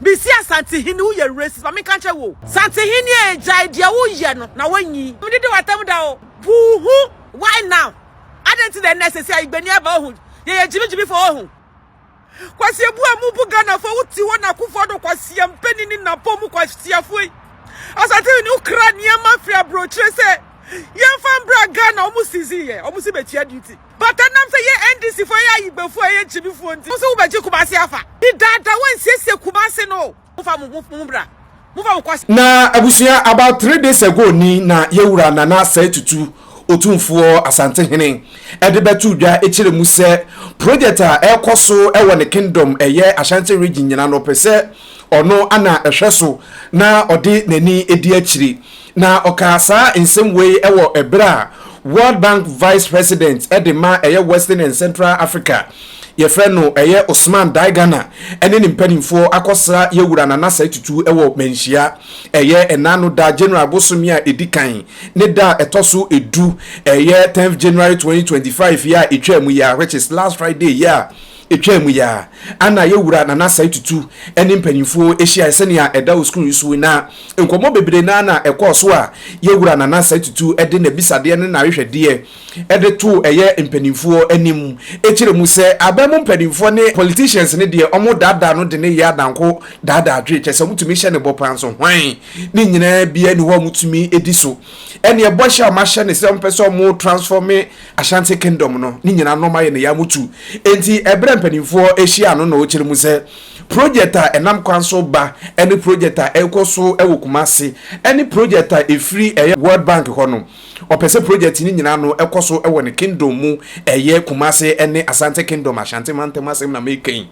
Mese Asantehene wo yɛ racist ma menka nkyɛ wo. Santehene ee gyae deɛ wo yɛ no na wanyi. Me dede w'atam da o. Puuhu why now adɛn nti na ɛnɛ sɛsi a igbani aba ohu yɛyɛ gyimi gyimi fo ohu. Kwasia bu a mu bu Ghana fo wo te hɔ na Akufo Addo kwasia mpanin ne napɔ mu kwasia fo yi. Asantehene wo kra nneɛma firi abrokyire sɛ yɛnfa mbra Ghana ɔmo sizi yɛ ɔmo si bɛtua duty. But ɛnam sɛ yɛ NDC foɔ yɛ ayigbɛfoɔ a yɛ nkyimi foɔ nti mo se wobɛgye Kumasi afa. Di dada wansiesie Kumasi no o. Mo fa mo ho bra. Mo fa mo kɔ. Na abusua about three days ago ni na yɛwura Nana Asɛe Tutu Otumfoɔ Asantehene de bɛtoo dwa kyerɛ mu sɛ project a ɛrekɔ so wɔ ne kingdom ɛyɛ Ashanti region nyina no ɔpɛ sɛ ɔno na ɛhwɛ so na ɔde n'ani di akyiri Na ɔkaa saa nsɛm wei wɔ ɛberɛ a World Bank Vice President de ma ɛyɛ Western and Central Africa yɛfrɛ no ɛyɛ Ousmane Diagana ne ne mpanimfoɔ akɔsra yɛn Wura Nana Asai Tutu wɔ Manhyia ɛyɛ ɛnaano da January bosome a ɛdi kan ne da a ɛtɔ so edu ɛyɛ 10th January 2025 yi a ɛtwaa mu yi a which is last Friday yi a Etwaa mu yi ara a na yɛn Wura Nana Asai Tutu ne mpanyimfoɔ hyiaeɛ sɛnea ɛda wɔ sukuu yi so yi, na nkɔmmɔ bebree no ara na ɛkɔɔ so a yɛn Wura Nana Asai Tutu de n'abisadeɛ ne n'ahwehwɛdeɛ de too ɛyɛ mpanimfoɔ anim kyerɛ mu sɛ aban mu mpanimfoɔ ne politicians no deɛ wɔdaadaa no de no yɛ adanko daadaa dwe kyerɛ sɛ wɔtumi hyɛ no bɔ paa nso hwan ne nyinaa biara nni hɔ a wɔtumi di so ɛne ɛbɔhyɛ a wɔahyɛ no sɛ wɔpɛ sɛ wɔtransforme Ashanti Kingdom no ne nyinaa nɔɔma yɛ ne ya mu tu. Enti ɛberɛ mpanimfoɔ hyia ano na wɔkyerɛ mu sɛ project a ɛnam kwan so ba ne project a ɛrekɔ so wɔ Kumasi ne project a ɛfiri World Bank hɔ no, wɔpɛ sɛ project no nyinaa no kɔ so wɔ ne Kingdom mu, ɛyɛ Kumasi ne Asante Kingdom, Ashanti mantam asɛm na mereka yi,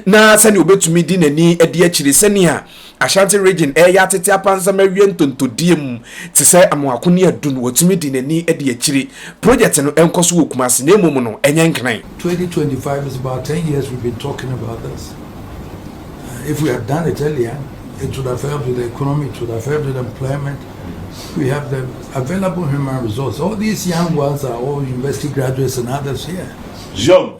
na sɛdeɛ ɔbɛtumi de n'ani adi akyire sɛdeɛ. Ashanti Region ɛyɛ atete apansam awie ntontodie mu te sɛ Amoako ne Adun wɔtumi de nani de akyire. Project no ɛnkɔ so wɔ Kumasi na mmom no ɛnyɛ Nkran. Twenty twenty five is about ten years we've been talking about this uh, if we had done it earlier it would have helped with the economy it would have helped with employment we have the available human resource all these young ones are all university graduates and others here. Zion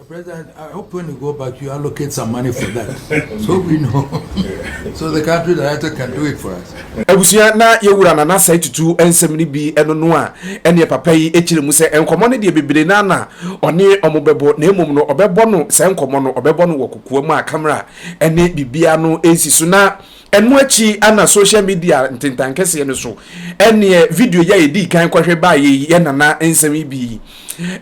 President, I hope when you go back, you allocate some money for that. so we know. so the country director can do it for us. Abusua na yɛwura na n'asɛe tutu nsɛm no bi ɛno no a ɛneɛ papa yi kyerɛ mu sɛ nkɔmmɔ no deɛ bebree no ana ɔne ɔmo bɛbɔ na mmom no ɔbɛbɔ no saa nkɔmmɔ no ɔbɛbɔ no wɔ kokoa mu a kamera ɛne biribiara no ɛnsi so na Ɛno akyi ana social media ntentan kɛseɛ no so ɛneɛ video yɛ ɛdii kan kɔhwɛ baa yɛ yi yɛ nana nsɛm yi bi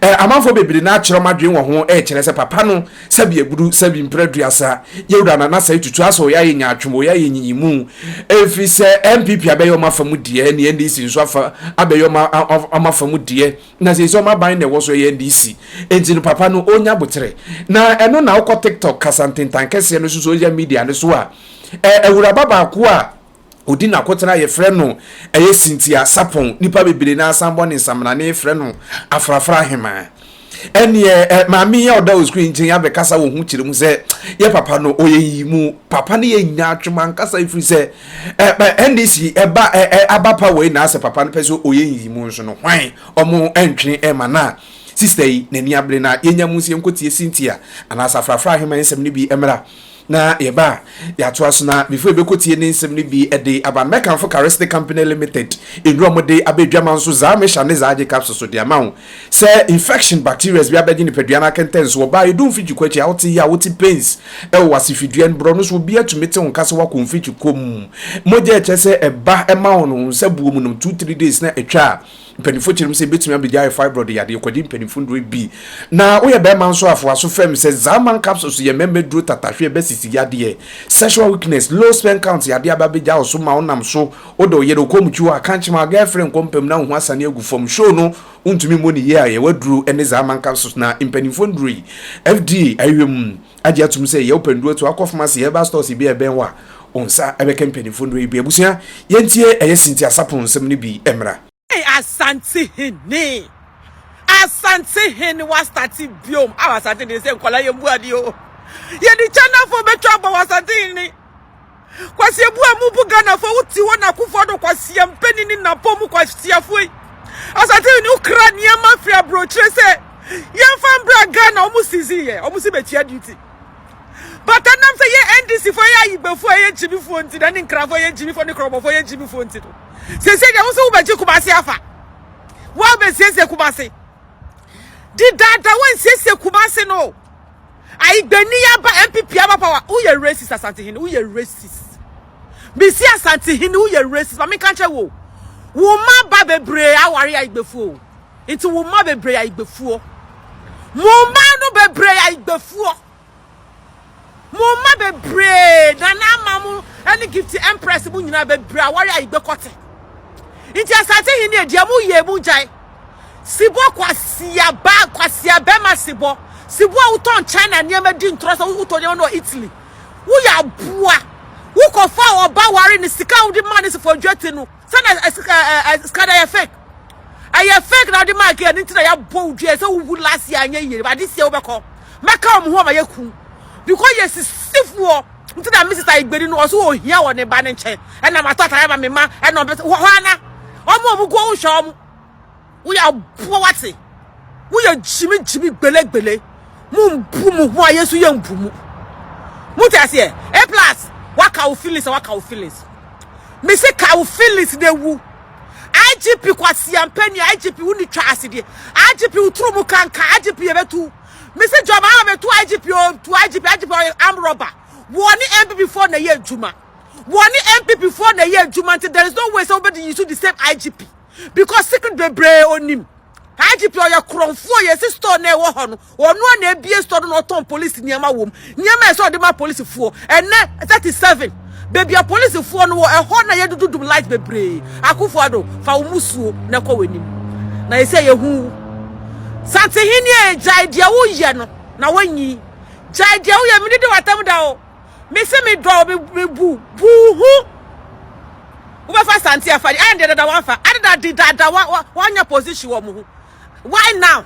ɛ amanfoɔ bebree na akyerɛ adwene wɔ ho ɛkyerɛ sɛ papa no sɛbi agudu sɛbi mprɛ duasa yɛwura nana sɛ tutu asɛ ɔyɛ ayɛ nyaatwom ɔyɛ ayɛ nyiyimu ɛfiri sɛ NPP abɛyɛ ɔma fa mu deɛ ne NDC nso afa abɛyɛ ɔma ɔma fa mu deɛ na sɛ sɛ ɔma ban na ɛwɔ so ɛyɛ NDC enti no papa no ɔnya botere na ɛno na ɔkɔ TikTok kasa ntentan kɛseɛ no so social media no so a Ɛ Awuraba baako a ɔdi n'akotena yɛfrɛ no ɛyɛ Cynthia Sarpong, nnipa bebree no ara san bɔ ne nsamanane frɛ no Afrafra Ahemaa. Ɛnneɛ ɛ maame yi a ɔda Oskui nkyɛn yi abɛkasa wɔ ho kyerɛ mu sɛ yɛ papa no ɔyɛ nyiyimu. Papa no yɛ nyaatwom ankasa ɛfiri sɛ ɛ ɛ NDC ɛba ɛ ɛ aba pa wei na asɛ papa no pɛ sɛ ɔyɛ nyiyimu nso no hwan ɔmo ɛntwe ɛma no a sista yi n'ani abere na yɛnya mu nso yɛnkɔtie Cynthia anaasɛ Afrafra Ahemaa nsɛm no bi mmra. Na yɛba a, yɛatoa so na before yɛbɛkɔtie ne nsɛm no bi de aba no, mɛkamfo Cares ne Company Limited nnuro a wɔde aba adwama nso, Zaa Mixture ne Zaa Agye Capsules so de ama wo. Sɛ infection, bacterias bi abɛgye nipadua no akɛntɛnso, ɔbaa, ɛdu mfikyikwɔ akyi a wote yaw, wote pains wɔ w'asefidua no, borɔ no so, obiara tumi te wo nka sɛ woakɔ mfikyikwɔ mu. Mogya a ɛkyerɛ sɛ ɛba ma wo no, wo nsa buo mu nom two, three days na atwa a, Mpanyimfo kyerɛ mu sɛ ebetumi abegyae fibroid yadeɛ, kwadi mpanyimfo nnuru ebi. Na woyɛ barima nso a, fa w'aso fam sɛ Zaman capsules yɛ mmarima aduro tata, hwɛ basisi yadeɛ, sexual weakness, low sperm count yadeɛ aba abegya wo so ma wonam so wodɔ wo yere, wokɔ mutwi hɔ a, ka nkyem a, girl friend kɔ mpa mu na wo ho asane agu fam. Show no wontumi mmɔ no yie a, yɛwɔ aduro ne Zaman capsules na mpanyimfo nnuru yi FDA ahwehwɛ mu. agye atum sɛ yɛwɔ pɛ ndurotu akɔ pharmacy, herbal stores bi a ɛbɛn wo a wo nsa bɛka mpanyimfo nnuro yi bi. Abusua, yɛntie ɛyɛ Cynthia Sarpong nsɛm no bi mmra. Hey Asantehene Asantehene wa starte biom aw Asantehene sɛ nkwadaa yɛn bu ade oo yɛde China phone bɛtwa abɔ wɔ Asantehene. Kwasi ebu a mubu Ghanafoɔ wo te hɔ na Akufo Addo kwasia mpanin ne nnapɔn mu kwasiafoɔ yi Ɔsa TV ne wo kra nneɛma firi aburokyire sɛ yɛmfa mbra Ghana wɔn sizi yɛ wɔn si bɛtua duty but ɛnam sɛ yɛ NDC foɔ yɛ ayigbefoɔ yɛ gyimifoɔ nti na ne nkrafoɔ yɛ gyimifoɔ ne korɔbɔfoɔ yɛ gyimifoɔ nti no sɛsɛ deɛ wo sɛ wobɛgye Kumase afa woabɛsiesie Kumase di dada wɔnsiesie Kumase no Ayi gbani aba NPP aba power wo yɛ racist Asantehene wo yɛ racist. Mesi Asantehene wo yɛ racist ma menka nkyɛ wo. Wo ma ba bebree aware ayi gbefuo o. Nti wo ma bebree ayi gbefuo. Mo ma no bebree ayi gbefuo. Mo ma bebree nana ama mo ɛne gift empress mo nyinaa bebree aware ayi gbekɔte. Nti Asantehene deɛ mo yɛ mo gyae. Sebɔ kwasia ba kwasia bɛma sebɔ sebɔ a wotɔn China nneɛma di ntorɔ sɛ wotɔ nneɛma no wɔ Italy woyɛ aboa wokɔfa ɔba ware ne sika a wode maa ne sefo adwati no sɛ na sika no yɛ fake ɛyɛ fake na wode maa kɛ ne nti na yɛabɔ wo dua sɛ wowu last year anyɛ yie ade sie wobɛkɔ mɛka wɔn ho ama yɛku because yɛsisifoɔ nti na Mrs. Ayigbedi no ɔso ohia wɔ ne ba ne nkyɛn ɛna matɔ atare ma me ma ɛna ɔbɛ hɔ ana ɔmo ɔmo guo wohwɛ ɔmo woyɛ aboa wate woyɛ gyimi gyimi gbelegbele mo mbu mo ho a yɛnso yɛ mbu mu mo te aseɛ a plus waka wo feelings a waka wo feelings me se ka wo feelings na ewu IGP kwasiampɛ ni IGP wo ni twa ase deɛ IGP wo turu mu kankan IGP yɛ bɛ tu. Me se John Mahama me to IGP o to IGP IGP ɔyɛ arm robber. Wɔ ne MPP foɔ na ɛyɛ adwuma. Wɔ ne MPP foɔ na ɛyɛ adwuma nti there is no way sɛ wobɛdi yi so the same IGP because secret bebree onim. IGP ɔyɛ korɔnfoɔ yɛsi store na ɛwɔ hɔ no ɔno na ebie store no na ɔtɔn police nneɛma wɔ mu Nneɛma a ɛsɛ sɛ ɔde ma polisifoɔ ɛnnɛ, thirty seven, baabi a polisifoɔ no wɔ, ɛhɔ na yɛdudu dum light bebree. Akufo-Addo, fa wo mmusuo na kɔ w'anim. Na seesei yɛhu wo. Santehene ee, gyae deɛ woyɛ no na woanyi. Gyae deɛ woyɛ, mede di w'atam da o. Mese medɔ wo, me, mebu, bu wo ho. Wobɛfa Asante afa deɛ, ɛndeɛ dada wamfa. Adeda de dada, wa, wa, wanya position wɔ mo ho. why now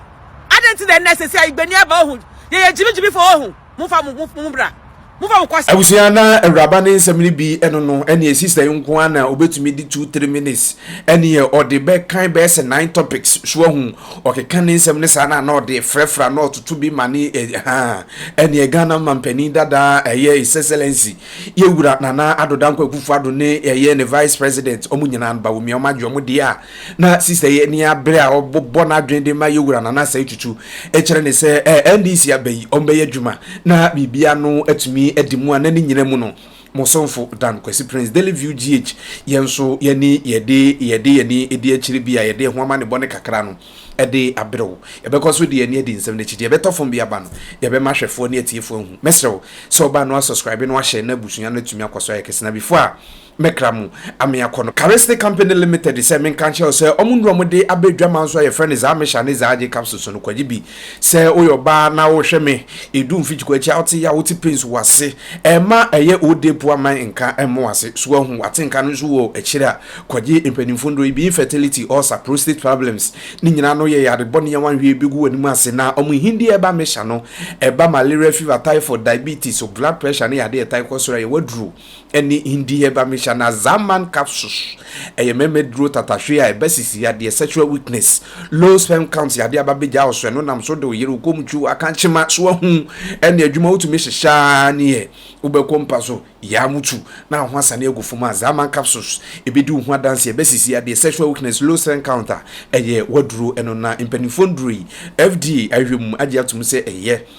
adɛn nti na ɛnɛ sɛ sɛ igbani aba ohu yɛyɛ gyimigyimifo ohu momfa mo mo mo bra momfa mo kɔsa abusua na awuraba ne nsɛm no bi ɛno no ɛne sista yi nko ara na obetumi de two three minutes ɛne yɛ ɔde bɛkan bɛyɛ sɛ nine topics so ahu ɔkeka ne nsɛm no saa na na ɔde frɛfrɛ na ɔtoto bi ma ne ɛ- ha ɛne ghana mampanin dada ɛyɛ his excellency yɛwura nana adoda nkwakufo ado ne ɛyɛ ne vice president ɔmo nyinaa no bawomia ɔmo agye ɔmo deɛ a Na Sister yi ani abere a ɔbɔ n'adwene de ma yɛ wura Nana Asai Tutu kyerɛ ne sɛ ɛɛ NDC aba yi ɔmbɛyɛ adwuma na biribi ano atumi adi mu a na ne nyina mu no mo somfo Dan Kwasi Prince Daily View GH yɛ nso yɛne yɛde yɛde yɛni di akyire bi a yɛde ɛho amanebɔ ne kakra no de abrɛ wo yɛbɛkɔ so de yɛni adi nsɛm no akyi deɛ ɛbɛtɔ fam bi aba no yɛbɛma ahwɛfoɔ ne atiefoɔ ahu mɛsrɛ wo sɛ ɔba no asubscribe no ahyɛ na abusua no atumi akɔ so ayɛ kɛse na before a me kra mu ame akɔ no Carestic company limited sɛ menka nkyerɛ wo sɛ ɔmo nnuro a ɔmo de aba adwaman nso a yɛfrɛ no Zahmisha ne Zahajy capsules no kwagye bi sɛ woyɛ ɔbaa na wohwɛ me edu mfikyiko akyi a wote yɛ a wote pains wɔ ase ɛma ɛyɛ old day poor man nka ɛmmo wɔ ase so ahu wate nka no nso wɔ akyiri a kwagye mpanimfo nnuro yi bi infertility ulcer prostate problems ne nyinaa no yɛ yare bɔne a wanhwɛ yɛ begu w'anim ase na ɔmo hindi ɛba mesha no ɛba malaria fever typhoid diabetes blood pressure ne yade ɛtae kɔ soro a yɛwɔ aduro Ɛne Hindi-Hebamishanazaman Capsules, ɛyɛ mɛmɛ duro tatahwe a ɛba sisi yadeɛ, sexual weakness, low sperm count yadeɛ aba bɛgya wo so, ɛno nam so de wo yere, wo komkyu, wo akankyema so ahu ɛne adwuma wotumi hyehyɛ ara ne yɛ, wobɛkɔ mpa so, yaa mutu na wo ho asane agu fam a, Zaman Capsules ɛbɛdi wo ho adanseɛ, ɛba sisi yadeɛ, sexual weakness, low sperm count a ɛyɛ w'aduro, ɛno na mpaninfoɔ nnuro yi FDA ahwɛ mu agye atom sɛ ɛyɛ.